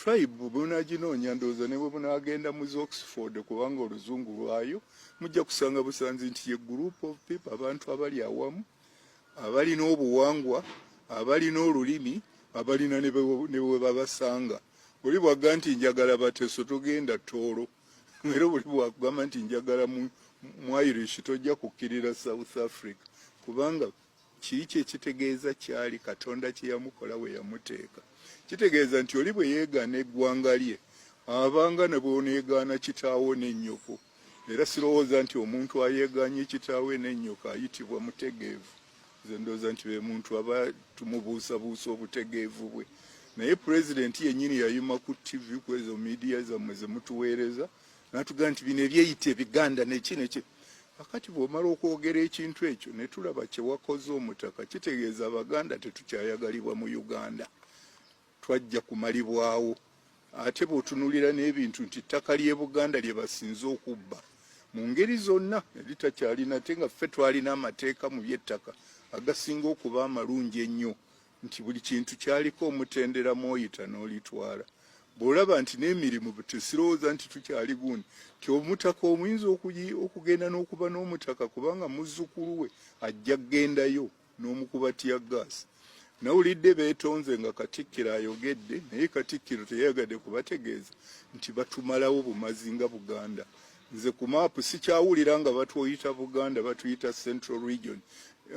tribe bwebunaginoonya ndowooza ne bwe bunagenda mu oxford kubanga oluzungu lwayo mujja kusanga busanzi nti ye group of people abantu abali awamu abalina obuwangwa abalina olulimi abalina ne bwe babasanga oli bwagga nti njagala bateso togenda toolo era oli bwakugamba nti njagala mu irish tojja kukkirira south africa kubanga Kiiki ekitegeeza kyali Katonda kye yamukola we yamuteeka. Kitegeeza nti oli bwe yeegaana eggwanga lye abanga ne bwoneegaana kitaawo ne nnyoko. Era sirowooza nti omuntu ayeegaanye kitaawe ne nnyoko ayitibwa mutegeevu. Nze ndowooza nti be muntu aba tumubuusabuusa obutegeevu bwe. Naye pulezidenti yennyini yayima ku ttivi kwezo miidiya zammwe ze mutuweereza natugaa nti bino ebyeyita ebiganda neki neki akati bwomala okwogera ekintu ekyo netulaba kyewakoze omutaka kitegeeza abaganda tetukyayagalibwa mu uganda twajja kumalibwawo ate bwotunulira n'ebintu nti ttaka ly'e buganda lye basinze okubba mu ngeri zonna eritakyalina ate nga ffe twalina amateeka mu byettaka agasinga okuba amalungi ennyo nti buli kintu kyaliko omutendera mwoyita n'olitwala bw'olaba nti n'emirimu tesirowooza nti tukyali gundi nti omutaka omuyinza okugenda n'okuba n'omutaka kubanga muzzukulu we ajja kugendayo n'omukuba tiya gaasi nawulidde beetonze nga katikkiro ayogedde naye katikkiro teyayagadde kubategeeza nti batumalawo bumazi nga buganda nze ku maapu sikyawulira nga batwoyita buganda batuyita central region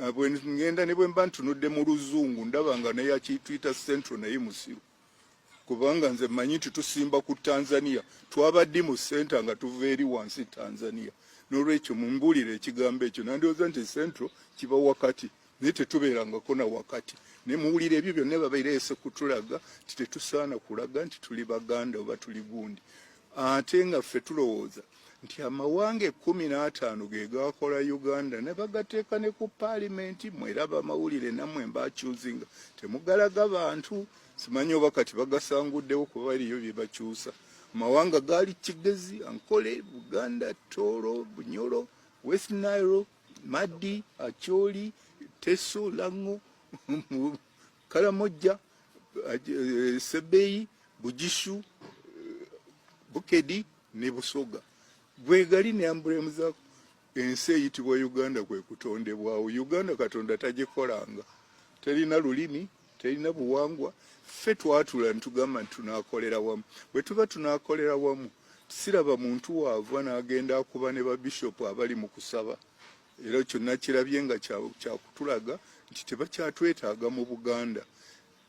ah, bwengenda ne bwemba ntunudde mu luzungu ndaba nga neyakituyita central naye musiru kubanga nze manyi nti tusimba ku tanzania twabaddi mu center nga tuva eri wansi tanzania nolwekyo mumbulire ekigambo ekyo nandioza nti central kiba wakati naye tetubeerangako na wakati ne muwulira ebyo byonna babereese kutulaga nti tetusaana kulaga nti tuli baganda oba tuli gundi ate nga ffe tulowooza nti amawanga ekkumi n'ataano ge gaakola uganda ne bagateeka ne ku paalimenti mweraba amawulire nammwe mbakyuzinga temugalaga bantu simanyi oba kati bagasanguddewo kuba baliyo bye bakyusa amawanga gaali kigezi ankole buganda tooro bunyoro west nairobi Maddi, Acholi, Teso, Lango, Karamoja, eh, Sebeyi, Bujishu, eh, Bukedi ne Busoga. Bwegali ne ambulemu za ensi eyitibwa Uganda kwe kutondebwawo. Uganda Katonda tagikolanga. Terina lulimi, terina buwangwa ffe twatula ntugamba nti tunakolera wamu bwe tuba tunakolera wamu siraba muntu waava n'agenda akuba ne babishopu abali mu kusaba era ekyo nakirabye nga kyakutulaga nti tebakyatwetaaga mu buganda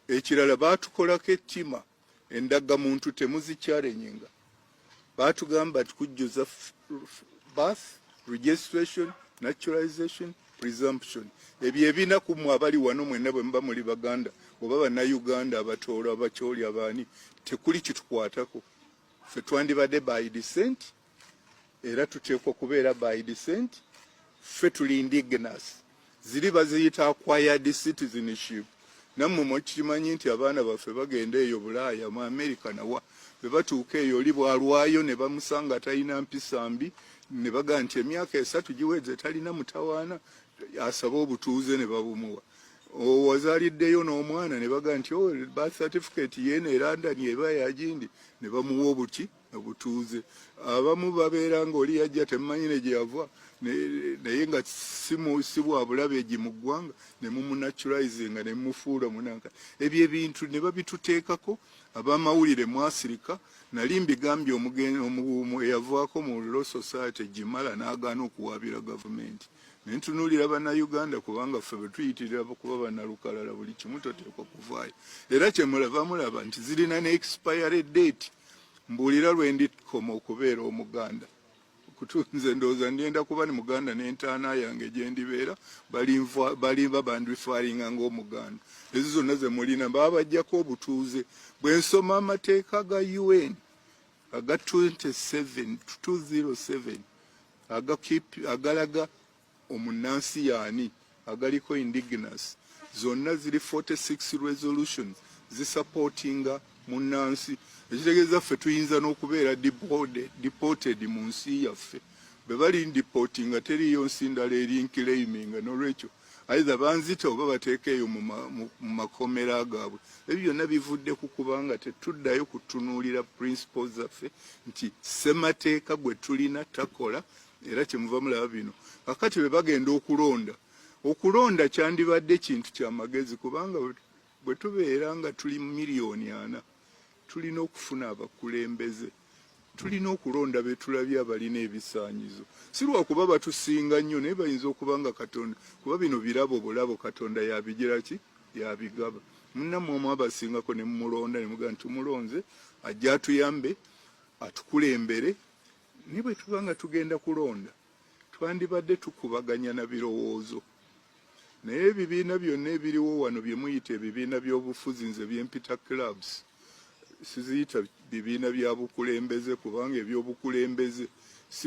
ekirala baatukolako ettima Endaga muntu temuzikyarenyinga batugamba tukujjuza birth registration naturalization presumption ebyo ebina ku mwe abali wano mwena bwe muba muli baganda oba bana uganda abatoolo abakyoli abaani tekuli kitukwatako fe twandibadde by descent era tuteekwa okubeera by descent ffe tuli indigenous ziri baziyita acquired citizenship nammwe mukimanyi nti abaana baffe bagenda eyo bulaaya mu america nawa bwe batuuka eyo oli bwalwayo ne bamusanga talina mpisa mbi ne bagaa nti emyaka esatu giweze talina mutawaana asaba obutuuze ne babumuwa owazaliddeyo n'omwana ne bagaa nti oh, birth certificate yeeno erandani eba yagindi ne bamuwa obuki obutuuze abamu babeera nga oli yajja temumanyi ne gyeyava naye nga si bwa bulabe egi mu ggwanga ne mumunaturizinga ne mumufuula omunanka ebyo ebintu ne babituteekako abamawulire mwasirika nali mbigambye omugumu eyavaako mu law society gimala n'agaana okuwaabira gavumenti naye ntunuulira bannayuganda kubanga ffe bwe tuyitirira kuba bannalukalala buli kimu toteekwa kuvaayo era kyemulaba mulaba nti zirina ne expiry date mbuulira lwe ndikoma okubeera omuganda kutunze ndowooza ngenda kuba ni muganda n'entaana yange gye ndibeera balimba bandifaalinga ng'omuganda ezo zonna ze mulina baba bajjako obutuuze bwe nsoma amateeka ga un aga 27 207 agalaga omunnansi yaani agaliko indigenous zonna ziri 46 resolutions zisupportinga munnansi ekitegeeza ffe tuyinza n'okubeera deported mu nsi yaffe bwe bali ndipoti nga teriiyo nsi ndala eri nkileiminga n'olwekyo aidha banzita oba bateeka eyo mu makomera gaabwe ebyo byonna bivudde ku kubanga tetuddayo kutunuulira principles zaffe nti ssemateeka gwe tulina takola era kyemuva mulaba bino kakati bwe bagenda okulonda okulonda kyandibadde kintu kya magezi kubanga bwe tubeera nga tuli miliyoni ana tulina okufuna abakulembeze tulina okulonda betulabye abalina ebisaanyizo si lwakuba batusinga nnyo naye bayinza okuba nga katonda kuba bino birabo bulabo katonda yabigira ki yabigaba munnamwe omu abasingako ne mumulonda ne mugaa nti tumulonze ajja atuyambe atukulembere Ne bwe tuba nga tugenda kulonda twandibadde tukubaganya na birowoozo naye ebibiina byonna ebiriwo wano bye muyita ebibiina by'obufuzi nze byempita clubs siziyita bibiina bya bukulembeze kubanga eby'obukulembeze si